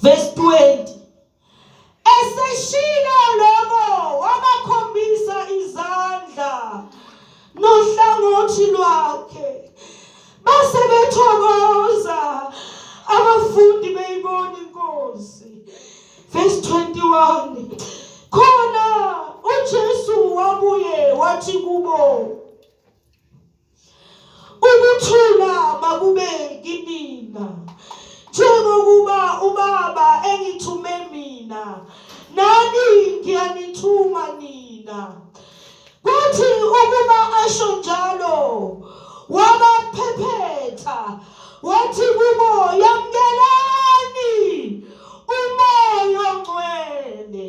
Verse 20 Eseshilo lokho wabakhombisa izandla nohlangothi lwakhe base bethokoza abafundi beyibona inkosi verse 21 khona uJesu wabuye wathi kubo Ukuthula makube kinina. Njengokuba uBaba engithume mina, nami ngiyanithuma nina. Kuthi ukuba asho njalo, wabaphephetha wathi kubo, yamkelani uMoya oNgcwele.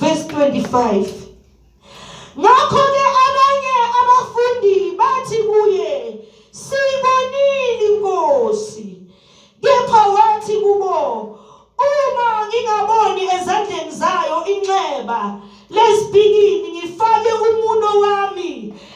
verse 25 ngakho ke abanye abafundi bathi kuye sibonile inkosi kepha wathi kubo uma ngingaboni ezandleni zayo inxeba lesibikini ngifake umuno wami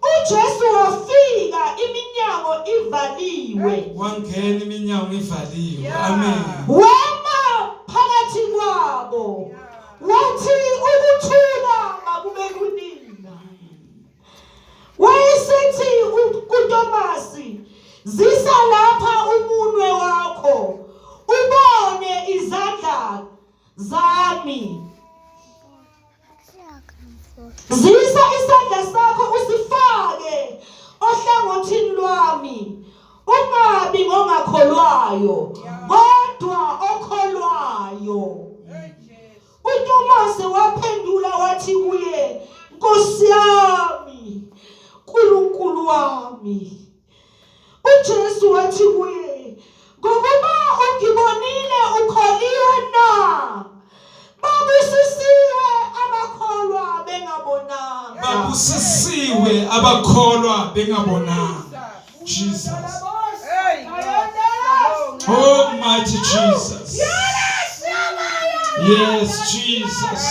UJesu wafika iminyango ivaliwe. Wangena iminyango ivaliwe. Amen. Wema phakathi kwabo. Wathi ukuthula makube kunina. Wayesethi kuTomasi, zisa lapha umunwe wakho. Ubone izandla zami. Zisa isandla sakho usifake ohlangothini lwami. Ungabi ngongakholwayo kodwa okholwayo. UTomase waphendula wathi kuye, Nkosi yami, uNkulunkulu wami. UJesu wathi kuye, Ngokuba ungibonile ukholiwe na? Babusisiwe abakholwa bengabonanga. Babusisiwe abakholwa bengabonanga. Jesus. Oh, mighty Jesus. Yes, Jesus.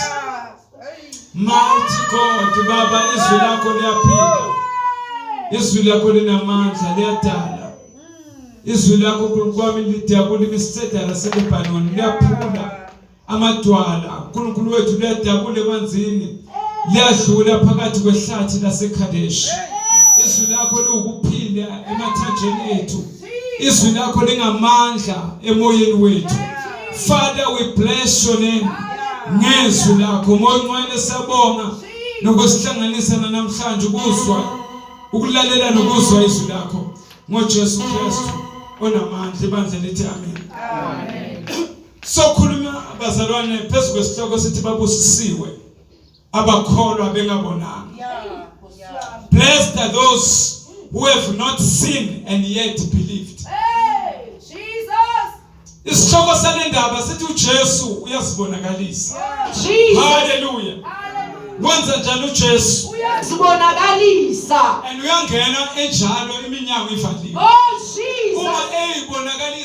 Mighty God baba izwi lakho liyaphila izwi lakho linamandla liyadala izwi lakho nkulunkulu wami lidakulima isidedala selebanoni liyaphula amadwala unkulunkulu wethu liyadakula emanzini liyadlula phakathi kwehlathi lasekhadeshi izwi lakho liwukuphila emathanjeni ethu izwi lakho lingamandla emoyeni wethu father we bless your name ngezwi lakho moyingcwele sabonga nokusihlanganisa namhlanje ukuzwa ukulalela nokuzwa izwi lakho ngoJesu Kristu onamandla ibandla lithi amen amen sokhuluma abazalwane phezu kwesihloko sithi babusisiwe abakholwa bengabonanga blessed are those who have not seen and yet believed hey jesus isihloko salendaba sithi uJesu uyazibonakalisa haleluya wenza njani uJesu uyazibonakalisa and uyangena enjalo iminyango ivaliwe oh jesus uma eyibonakalisa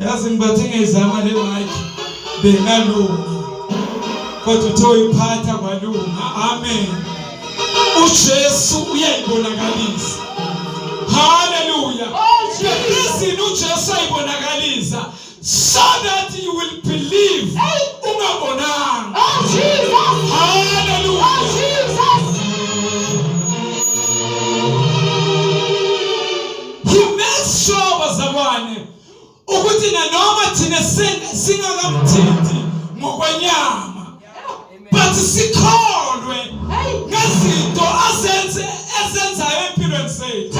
yazi ngibathi ngezama le mic bengalungi kodwa uthe uyiphatha kwalunga amen uJesu uyayibonakalisa haleluya izini oh, uJesu ayibonakalisa so that you will believe ungabonanga oh Jesus haleluya oh Jesus He makes sure bazalwane ukuthi nanoma thina singakamthinti ngokwenyama but sikholwe ngezinto azenze ezenzayo empilweni zethu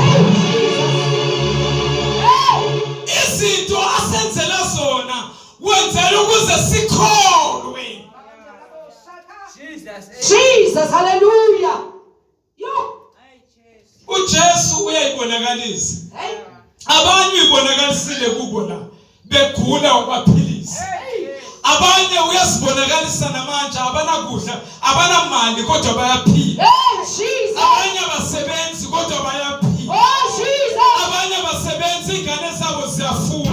izinto asenzela zona wenzela ukuze sikholwe Jesus hallelujah uJesu uyayibonakalisa abanye uyibonakalisile kubo la begula wabaphilisa abanye uyazibonakalisa namanje abanakudla abanamali kodwa bayaphila abanye abasebenzi kodwa bayaphila oh, abanye abasebenzi ingane zabo ziyafuna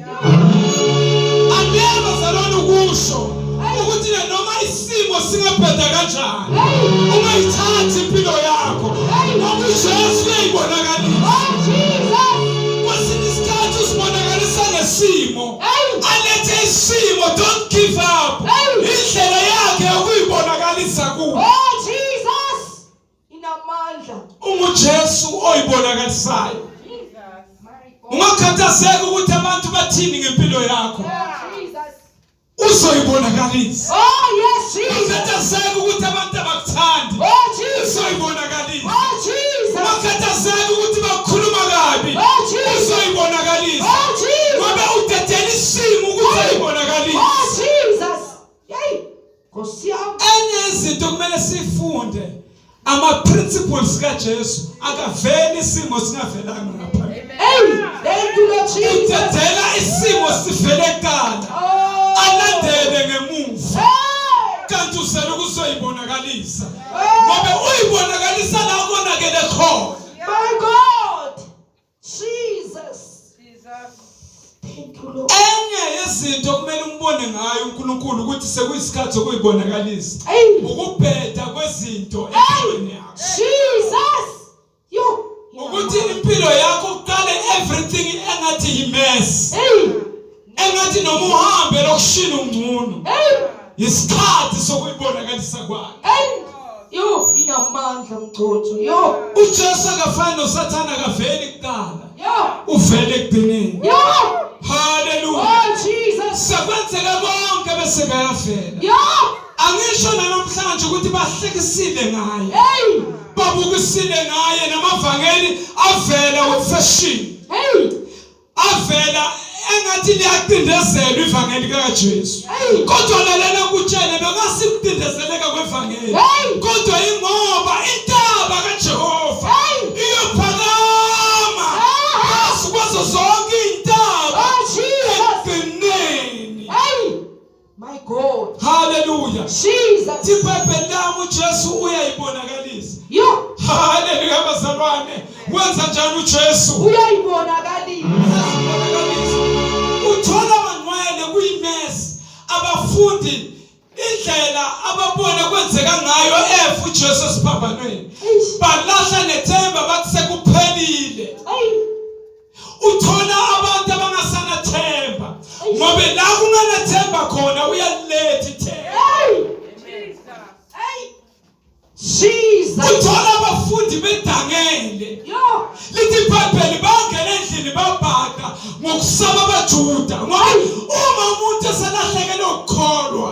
Angiyeva salona ukusho ukuthi noma isimo singabheda kanjani ungayithathi impilo yakho ngoba uJesu uyayibonakalisa. Kwesinye isikhathi usibonakalisa ngesimo alethe isimo don't give up. inamandla unguJesu oyibonakalisayo ungakhathazeki ukuthi abantu bathini ngempilo yakho uzoyibonakalisa oh yes jesus ungakhathazeki ukuthi abantu abakuthandi oh jesus uzoyibonakalisa oh jesus ungakhathazeki ukuthi bakhuluma kabi oh jesus uzoyibonakalisa oh jesus ngoba udedela isimo ukuthi ayibonakalisa oh jesus Nkosi yami. Enye izinto kumele sifunde ama principles kaJesu akaveli isimo singavelanga ngapha. Hey, thank you Lord Jesus. Uthethela isimo sivele kuqala. Oh. Alandele ngemuva. Kanti usele ukuzoyibonakalisa. Ngoba uyibonakalisa la konakele khona. My God. Jesus. Jesus. enye yezinto okumele umbone ngayo uNkulunkulu ukuthi sekuyisikhathi sokuyibonakalisa ukubheda kwezinto empilweni yakho Jesus yo ukuthi impilo yakho uqale everything engathi yimess hey engathi noma uhambe lokushila ungcono isikhathi sokuyibonakalisa kwakhe yo inamandla mgcotho yo uJesu akafani noSathana akaveli kuqala yo uvele ekugcineni yo haleluya oh jesus sekwenzeka konke bese kayavela yo angisho namhlanje ukuthi bahlekisile ngaye hey babukisile ngaye namavangeli avela wefashion hey avela engathi liyacindezelwa ivangeli kaJesu kodwa lalela kutshele bekasikucindezeleka kwevangeli kodwa ingoba intaba kaJehova iyophakama phezu kwazo zonke iy'ntaba ekugcineni My God. Hallelujah. Jesus. Tipepe damu Jesu uyayibonakalisa. Yo. Hallelujah bazalwane. Wenza njani uJesu? Uyayibonakalisa. Uthola manwele kuyimesi abafundi indlela ababona kwenzeka ngayo efu Jesu esiphambanweni. Balahla nethemba bathi sekuphelile. Ayi. uthola abantu abangasanathemba ngoba la kunganathemba khona uyaliletha ithemba uthola abafundi bedangele lithi ibhayibheli bangena endlini babhaka ngokusaba abajuda ngoba uma umuntu eselahlekelwe ukukholwa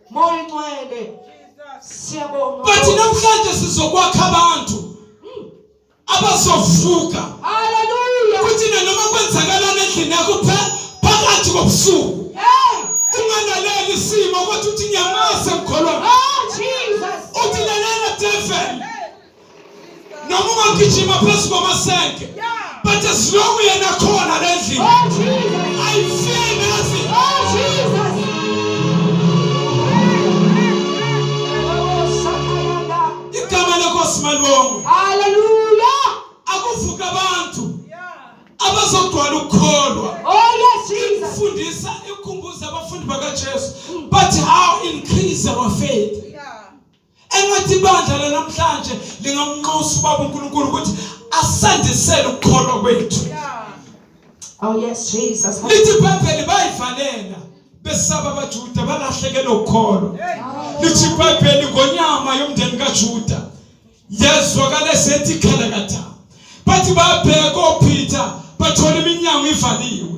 Moya Ngcwele. Siyabonga. But namhlanje sizokwakha abantu hmm. abazovuka. Hallelujah. Kuthi noma kwenzakalana endlini yakho phakathi kobusuku. unganaleli isimo kodwa uthi ngiyamazi emkholwa ah, uthi lalela devil noma ungagijima phezu kwamasenke but as long yena khona le ndlini oh, i feel nothing oh jesus igama lenkosi malibongo haleluya akuvuka abantu abazogcwala ukukholwa oh yes jesus fundisa ikhumbuza abafundi bakaJesu but how increase our faith engathi ibandla lanamhlanje lingamnxusa ubaba uNkulunkulu ukuthi asandisele ukukholwa kwethu Oh yes Jesus lithi iBhayibheli bayivalela besaba abaJuda balahlekelwe ukholo lithi iBhayibheli ngonyama yomndeni kaJuda yazwakala sethi khalakatha bathi babheka oPeter bathola iminyango ivaliwe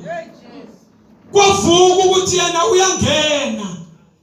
kwavuka ukuthi yena uyangena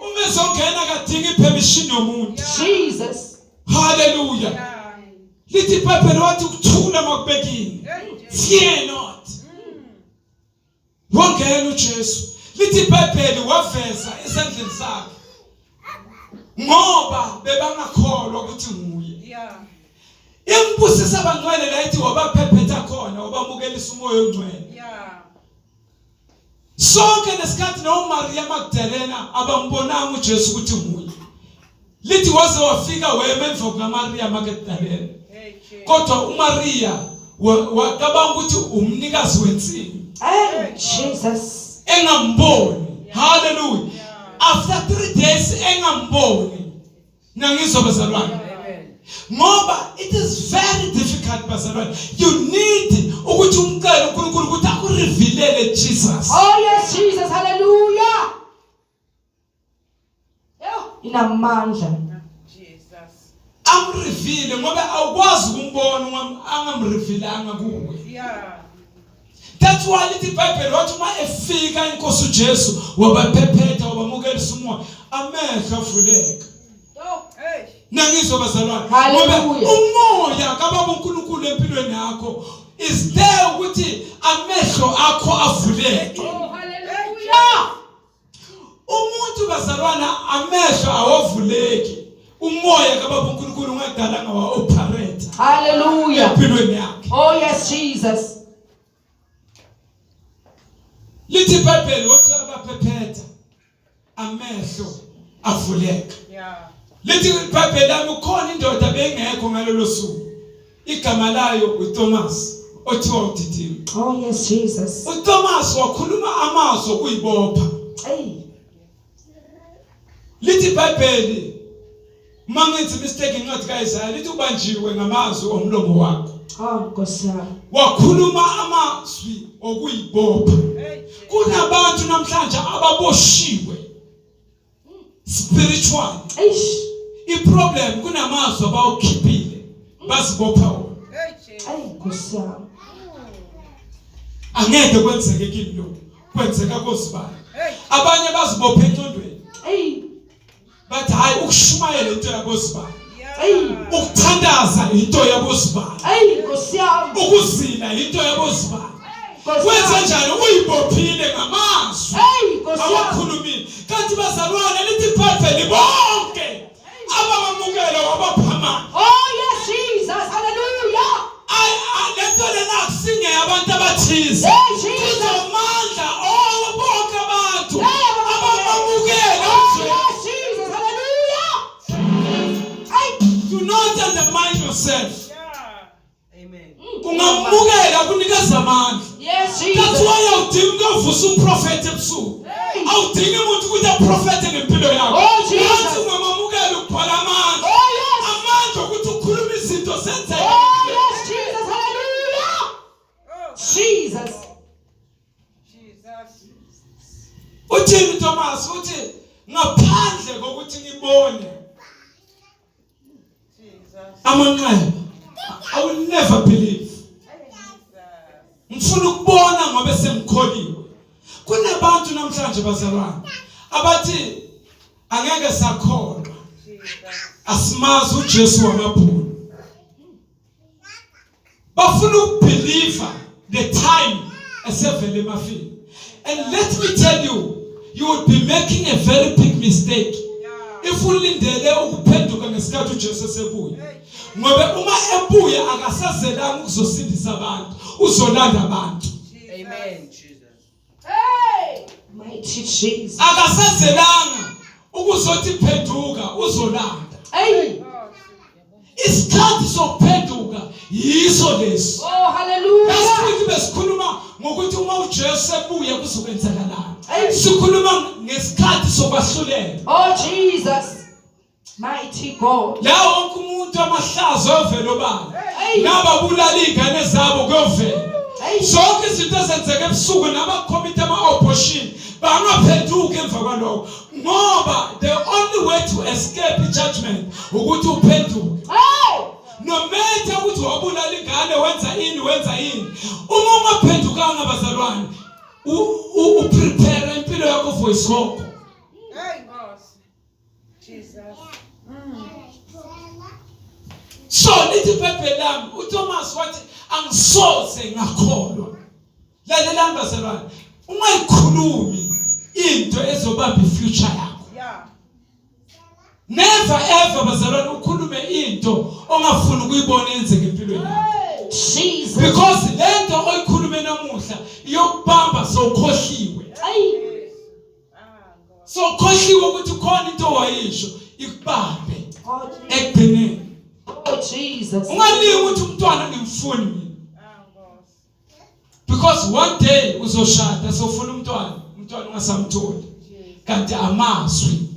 uma ezongena akadingi permission yomuntu Jesus haleluya lithi ibhayibheli wathi ukuthula makubekile fear not wangena uJesu lithi ibhayibheli waveza esandleni sakhe ngoba bebangakholwa ukuthi nguye yeah imbusisa abangcwele la ithi wabaphephetha khona wabamukelisa umoya ongcwele yeah sonke lesikhathi noMaria Magdalena abambonanga uJesu ukuthi nguye lithi waze wafika wema emva kukaMaria Magdalena kodwa uMaria wacabanga ukuthi umnikazi wensini hey Jesus engamboni hallelujah after 3 days engamboni nangizwa bazalwane ngoba it is very difficult bazalwane you need ukuthi umcele uNkulunkulu ukuthi akurevealele Jesus oh yes Jesus hallelujah yo inamandla Jesus amrevile ngoba awukwazi ukumbona angamrevilanga kuwe yeah That's why lithi iBhayibheli wathi uma efika inkosi uJesu wabaphephetha wabamukelisa umoya amehlo avuleka. Nangizwa bazalwane ngoba umoya kababa uNkulunkulu empilweni yakho is there ukuthi amehlo akho avuleke. Oh hallelujah. umuntu bazalwana amehlo awavuleki umoya kababa uNkulunkulu ungadala ngawa operate haleluya empilweni yakhe oh yes jesus lithi ibhayibheli wase abaphephetha amehlo avuleka yeah lithi ibhayibheli lami ukhona indoda bengekho ngalolo suku igama layo uThomas othiwa uDidimi Oh yes Jesus. uThomas wakhuluma amazwi okuyibopha Hey. lithi ibhayibheli uma ngenzi mistake incwadi kaIsaya lithi ubanjiwe ngamazwi omlomo wakho Oh Nkosi yami. wakhuluma amazwi okuyibopha kunabantu namhlanje ababoshiwe spiritual eish i problem kunamazwi abawukhiphile bazibopha wona hey Nkosi yami angeke kwenzeke kimi lo kwenzeka kozibani abanye bazibophe encondweni hey bathi hayi ukushumayela into yakozibani ukuthandaza into yabozibani ukuzila into yabozibani wenze njani uyibophile ngamazwi awakhulumile kanti bazalwane lithi ibhayibheli bonke abamamukela wabaphamana oh yes jesus haleluya lento lena akusingeyabantu abathize Hey, do not undermine yourself. kungamukela kunikeza amandla that's why awudingi ukuyovusa umprofethi ebusuku awudingi umuntu ukuthi aprofethe ngempilo yakho wathi oh, ungamamukela ukugcwala amandla oh, amandla okuthi ukhulume izinto zenzeke oh, Jesus. uthini Thomas uthi ngaphandle kokuthi nibone amanqayo i will never believe ngifuna ukubona ngoba sengikholile kunabantu namhlanje bazalwane abathi angeke sakholwa asimazi uJesu wamabhulu bafuna ukubelieve the time esevele emafini and let me tell you you would be making a very big mistake if ulindele ukuphenduka ngesikhathi uJesu esebuya ngoba uma ebuya akasazelanga ukuzosindisa abantu uzolanda abantu amen Mighty Jesus. akasazelanga ukuzothi phenduka uzolanda Hey. isikhathi sokuphenduka yiso lesi Oh, last hallelujah. week besikhuluma ngokuthi uma ujesu ebuya kuzokwenzakalani Hey. sikhuluma ngesikhathi sokwahlulela Oh, Jesus. Mighty God. Lawo wonke umuntu amahlazo ovela obala. Naba bulala izingane zabo kuyovela. Zonke izinto ezenzeka ebusuku nama committee ama opposition bangaphenduki emva kwaloko ngoba the only way to escape judgment ukuthi uphenduke. Hey! No matter ukuthi wabulala ingane wenza ini wenza ini. Uma ungaphendukanga bazalwane u prepare impilo yakho for isoko. so lithi ibhayibheli lami uThomas wathi angisoze ngakholwa lalelani bazalwane ungayikhulumi into ezobamba ifuture yakho never ever bazalwane ukhulume into ongafuni ukuyibona yenzeka empilweni yakho Jesus because lento oyikhulume namuhla iyokubamba sokhohliwe ayi so khohliwe ukuthi khona into wayisho ikubambe ekugcineni oh jesus ungalingi ukuthi umntwana ngimfuni mina because one day uzoshada sofuna umntwana umntwana ungasamtholi kanti amazwi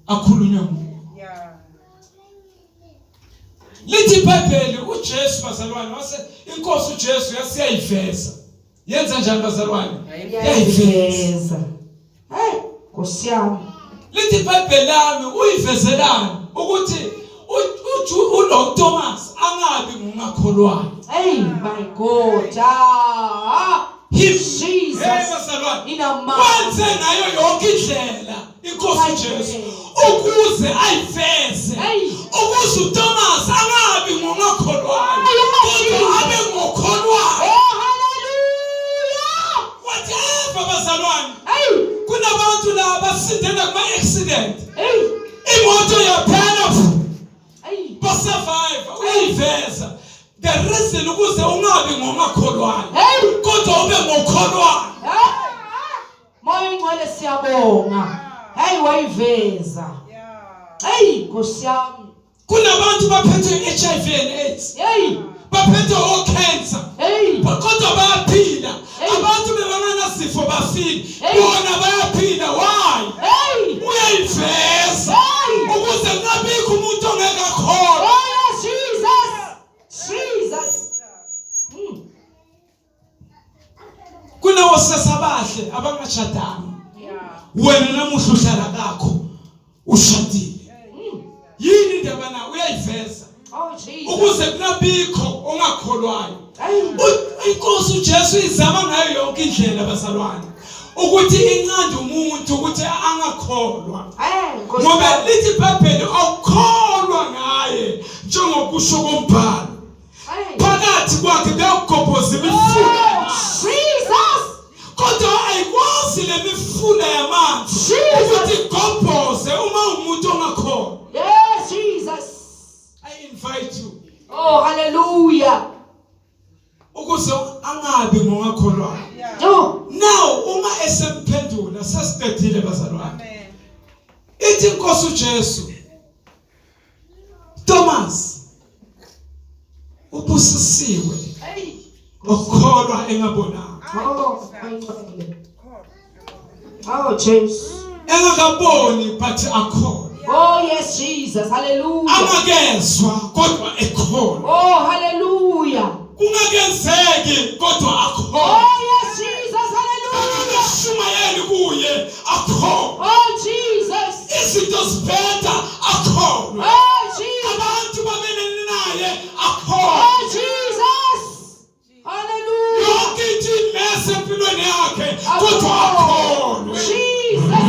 akhulunywa nguwe lithi ibhayibheli ujesu bazalwane wase inkosi ujesu yasiyayiveza Yenza njani bazalwane? Yayiveza. Hey, Nkosi yami. Lithi iBhayibheli lami uyivezelani ukuthi uLord Thomas angabi ngungakholwayo. Hey my God. Ah. Him Jesus. Hey, bazalwane. Ina mama. Wenze ngayo yonke indlela. inkosi Jesu ukuze ayiveze ukuze uThomas angabi ngongakholwayo kodwa abe ngokholwayo oh haleluya whatever bazalwane kunabantu la basindela kuma accident imoto yaphela ba survive uyiveza the reason ukuze ungabi ngongakholwayo kodwa ube ngokholwayo Moya ongcwele siyabonga. Hey wayiveza. Hey Nkosi yami. Kunabantu baphethe HIV and AIDS. Hey. Baphethe o cancer. Hey. Kodwa bayaphila. Abantu bebanganasifo bafile. Bona bayaphila. Why? Hey. Uyayiveza. Ukuze kungabikho umuntu ongeke akhona. kunawo sesabahle abangashadanga wena namuhla uhlala kakho ushadile yini indaba na uyayiveza oh, ukuze kunabikho ongakholwayo inkosi uJesu izama ngayo yonke indlela bazalwane ukuthi incande umuntu ukuthi angakholwa ngoba lithi ibhayibheli awukholwa ngaye njengokusho kombhalo phakathi kwakhe kuyawugobhoza imifula oh, kodwa ayikwazi le mifula yamanzi ukuthi igobhoze uma umuntu ongakhona yes jesus i invite you oh hallelujah ukuze angabi ngongakholwayo now uma esemphendula sesibhedile bazalwane ithi inkosi uJesu Thomas ubusisiwe ngokukholwa engabonanga Oh Jesus engakaboni but akhona Oh yes Jesus hallelujah angakezwa kodwa ekhona Oh hallelujah kungakenzeki kodwa akho Oh yes, Jesus, hallelujah. kungashumayeli kuye akho Oh Jesus. izinto zibheda akho Oh Jesus. abantu bamelene naye akho Oh Jesus. Hallelujah. yonke into imese empilweni yakhe kodwa akholwe Jesus,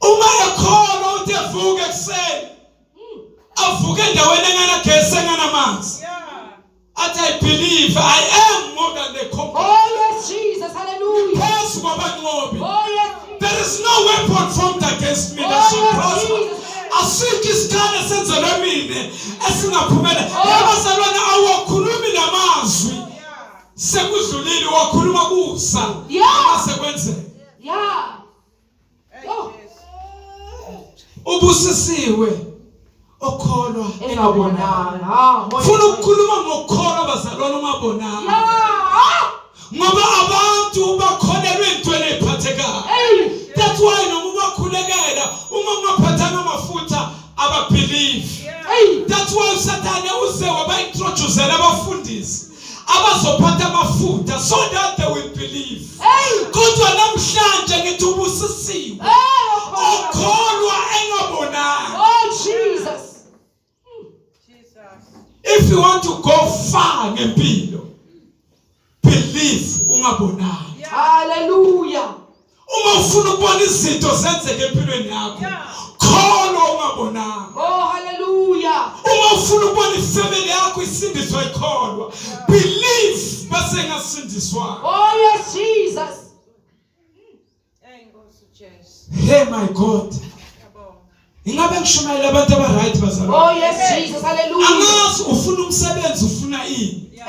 uma ekhona uthi evuke ekuseni avuke endaweni enganagesi enganamanzi athi i believe i am more than the conqueror oh yes jesus hallelujah phezu kwabanqobi oh yes there is no weapon formed against me that oh, shall prosper asikho isikhane senzelwe mina esingaphumela oh. yabazalwane awakhulumi namazwi sekudlulile wakhuluma kusa yeah. ubusisiwe okholwa engabonanga funa ukukhuluma ngokukholwa bazalwane ungabonanga ngoba abantu bakholelwe entweni ephathekayo that's why noma ubakhulekela uma ungaphathanga amafutha ababhilivi that's why usathane uze wabaintroducela abafundisi abazophatha amafuta so that they will believe kodwa namhlanje ngithi ubusisiwe okholwa engabonanga oh jesus if you want to go far ngempilo believe ungabonanga haleluya uma ufuna ukubona izinto zenzeke empilweni yakho khona ungabonanga oh hallelujah uma ufuna ukubona ifamily yakho isindiswa ikholwa believe base ngasindiswa oh yes jesus hey my god ingabe ngishumayela abantu abaright bazalwa oh yes jesus hallelujah angazi ufuna umsebenzi ufuna ini yeah.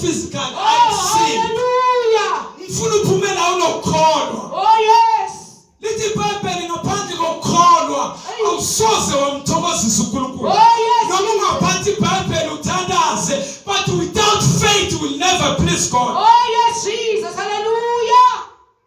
physical oh, haleluya ngifuna uphume la unokukholwa oh yes lithi ibhayibheli ngaphandle kokukholwa awusoze wamthokozisa uNkulunkulu oh, noma ungaphansi ibhayibheli uthandaze but without faith you will never please God oh yes Jesus haleluya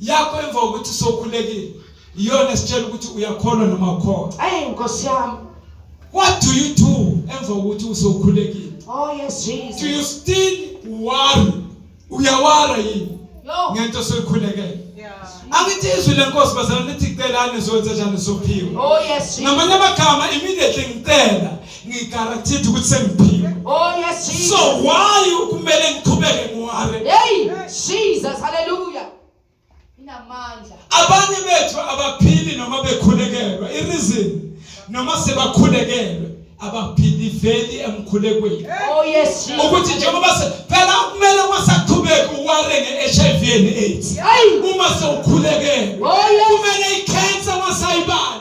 yakho emva kokuthi sokhulekile iyona esitshela ukuthi uyakholwa noma ukhona ayi nkosi yami what do you do emva kokuthi usokhulekile oh yes jesus do you still worry uyawara yini ngento soyikhulekele angithi izwi lenkosi bazalwane lithi celani zokwenza njani sophiwe oh, namanye amagama immediately ngicela ngigaranteed ukuthi sengiphile oh yes Jesus so why ukumele ngiqhubeke ngiware hey Jesus hallelujah inamandla abanye bethu abaphili noma bekhulekelwa i reason noma sebakhulekelwe abaphili veli emkhulekweni oh yes Jesus ukuthi njengoba phela kumele wasaqhubeka uware ngeHIV and AIDS uma sewukhulekelwe oh, kumele icancer wasayibala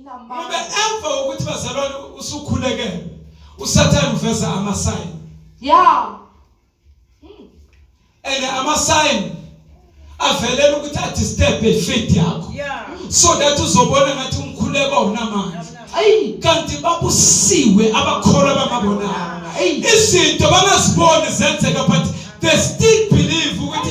ngoba emva kokuthi bazalwane usukhulekele usathane uveza amasayini ya hmm. and amasayini avelela ukuthi adisturbe ifeed yakho so that uzobona ngathi umkhuleko awunamandla kanti babusiwe abakholwa bangabonanga izinto bangaziboni zenzeka but they still believe ukuthi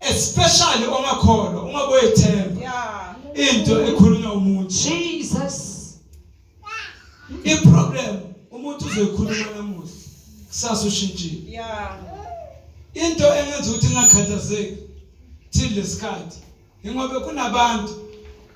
especially ongakholwa uma boyethemba yeah into ekhulunywa umuntu Jesus i problem umuntu uzoyikhuluma namuhla kusasa ushintshile yeah into engenza ukuthi ngakhathazeki till lesikhathi ingobe kunabantu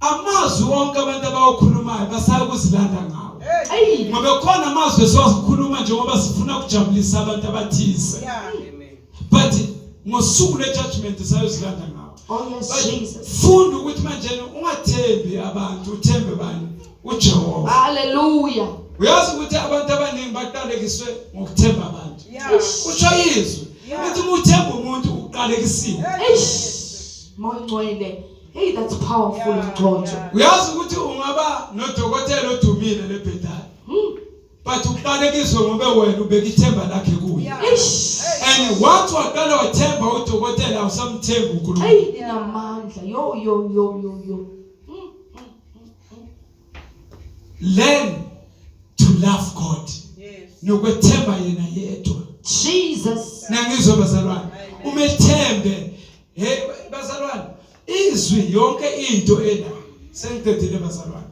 amazwi onke abantu abawakhulumayo basaya kuzilanda ngawo ngoba khona amazwi esiwakhuluma njengoba sifuna ukujabulisa abantu abathize but ngosuku lejudgment sayozilanda ngawo oh, funda ukuthi manje ungathembi abantu uthembe bani ujehova haleluya uyazi ukuthi abantu abaningi baqalekiswe ngokuthemba abantu usho izwi ukuthi uma uthemba umuntu uqalekisiwe moya ungcwele Hey that's powerful Mgcotho. Uyazi ukuthi ungaba nodokotela odumile lebhedala. Hmm. But ubalekiswe ngoba wena ubeka ithemba lakhe kuye. Eish. And once waqala wathemba udokotela awusamthembi uNkulunkulu. Hey inamandla. Yo yo yo yo yo. Hmm, hmm, Learn to love God. Yes. Nokwethemba yena yedwa. Jesus. Nangizwe bazalwane. Umethembe Hey bazalwane, izwi yonke into ena sengiqedile bazalwane.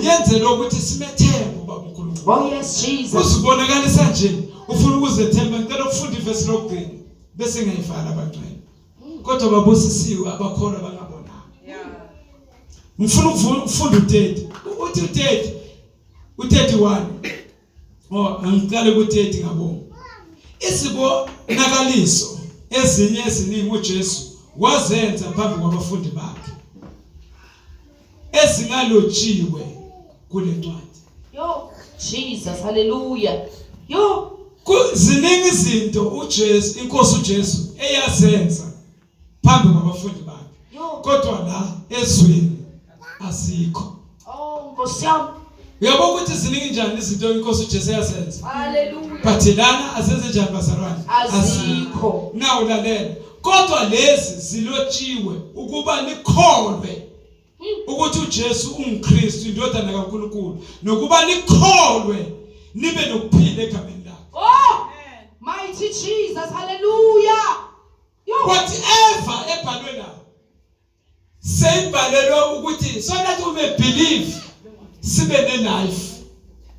Yenze lokuthi simethembe ubaba uNkulunkulu. Oh yes Jesus. Usibonakalisa nje ufuna ukuzethemba ngicela ukufunda ivesi lokugcina bese ngiyivala abangcwele. Kodwa babusisiwe abakhona bangabona. Yeah. Ngifuna ukufunda uTete. Uthi uTete uTete wani? Oh, angiqale ukuthi ethi ngabo. Izibonakaliso ezinye eziningi uJesu wazenza phambi kwabafundi bakhe ezingalotshiwe kule ncwadi. Yo, Jesus, haleluya. Yo, kuziningi izinto uJesu, inkosi uJesu eyazenza phambi kwabafundi bakhe kodwa la ezweni asikho oh nkosi yami uyabo ukuthi ziningi njani izinto inkosi uJesu yasenza haleluya but lana asenze njani bazalwane asikho nawu lalela kodwa lezi zilotshiwe ukuba nikholwe ukuthi uJesu unguKristu indodana kaNkuluNkulu nokuba nikholwe nibe nokuphila egameni lakhe oh mighty Jesus hallelujah whatever ebhalwe la seyibhalelwe ukuthi so that we may believe sibe ne life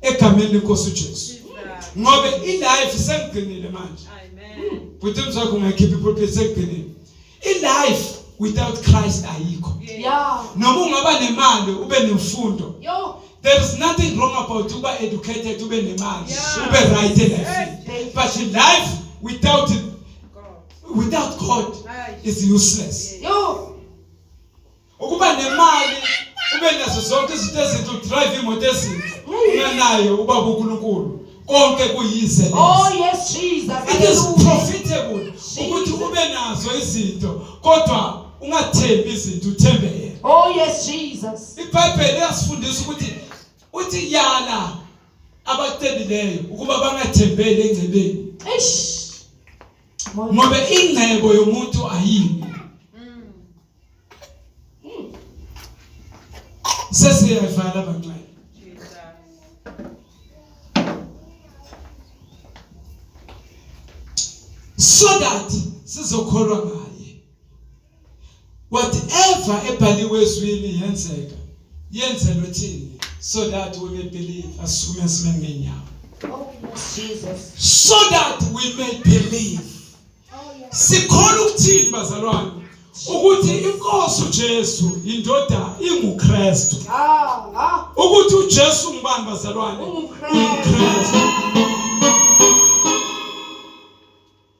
egameni lenkosi uJesu ngoba i life sengigcinile manje bhuti mzakho ungakhipha ipulpit sengigcinile i life without Christ ayikho yeah noma ungaba nemali ube nemfundo yo There is nothing wrong about to be educated, to be in a man, yeah. to be right in life. But in life, without without God is useless. Ukuba nemali ube nazo zonke izinto ezinto drive imoto ezinto unganayo ubaba uNkulunkulu konke kuyize lezi. Oh yes Jesus. It is profitable ukuthi ube nazo izinto kodwa ungathembi izinto uthembe yena. Oh yes Jesus. IBhayibheli liyasifundisa ukuthi uthi yala abacebileyo ukuba bangathembeli engcebeni eish ngoba ingcebo yomuntu ayini sesiyavala abancane so that sizokholwa ngaye whatever ebhaliwe ezwini yenzeka yenzelwe thini so that we may believe asukume sime ngenyawo so that we may believe sikhona ukuthini bazalwane ukuthi inkosi uJesu indoda inguKristu ukuthi uJesu ngubani bazalwane uKristu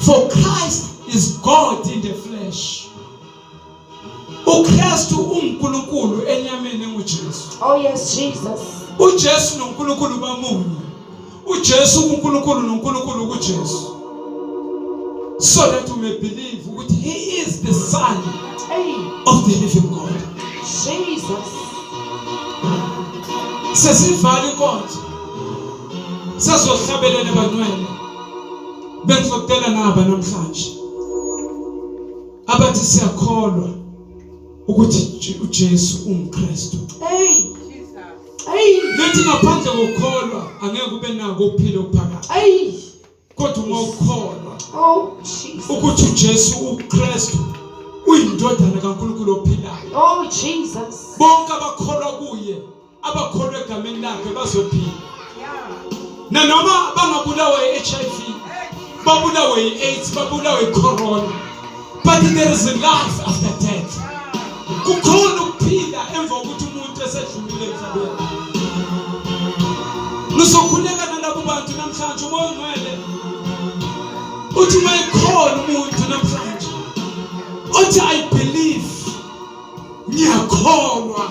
For Christ is God in the flesh. uKristu uNkulunkulu enyameni enguJesu. Oh yes Jesus. uJesu noNkulunkulu bamunye. uJesu uNkulunkulu noNkulunkulu kuJesu. So that you may believe ukuthi he is the son of the living God. Jesus. Sesivala inkonzo. Sazohlabelela bantwana. bengizokutela naba namhlanje abathi siyakholwa ukuthi uJesu ungikristu hey hey lethi ngaphandle kokukholwa angeke ube nako ukuphila okuphakathi hey kodwa uma ukholwa oh jesus ukuthi uJesu uKristu uyindodana kaNkulunkulu ophilayo oh jesus bonke abakholwa kuye abakholwa egameni lakhe bazophila nanoma bangabulawa i-hiv babulawe i-aids babulawe i-corona but there is a life after death kukhona ukuphila emva kokuthi umuntu esedlulile emhlabeni nizokhuleka nalabo bantu namhlanje umoya ongcwele uthi uma ekhona umuntu namhlanje othi i believe ngiyakholwa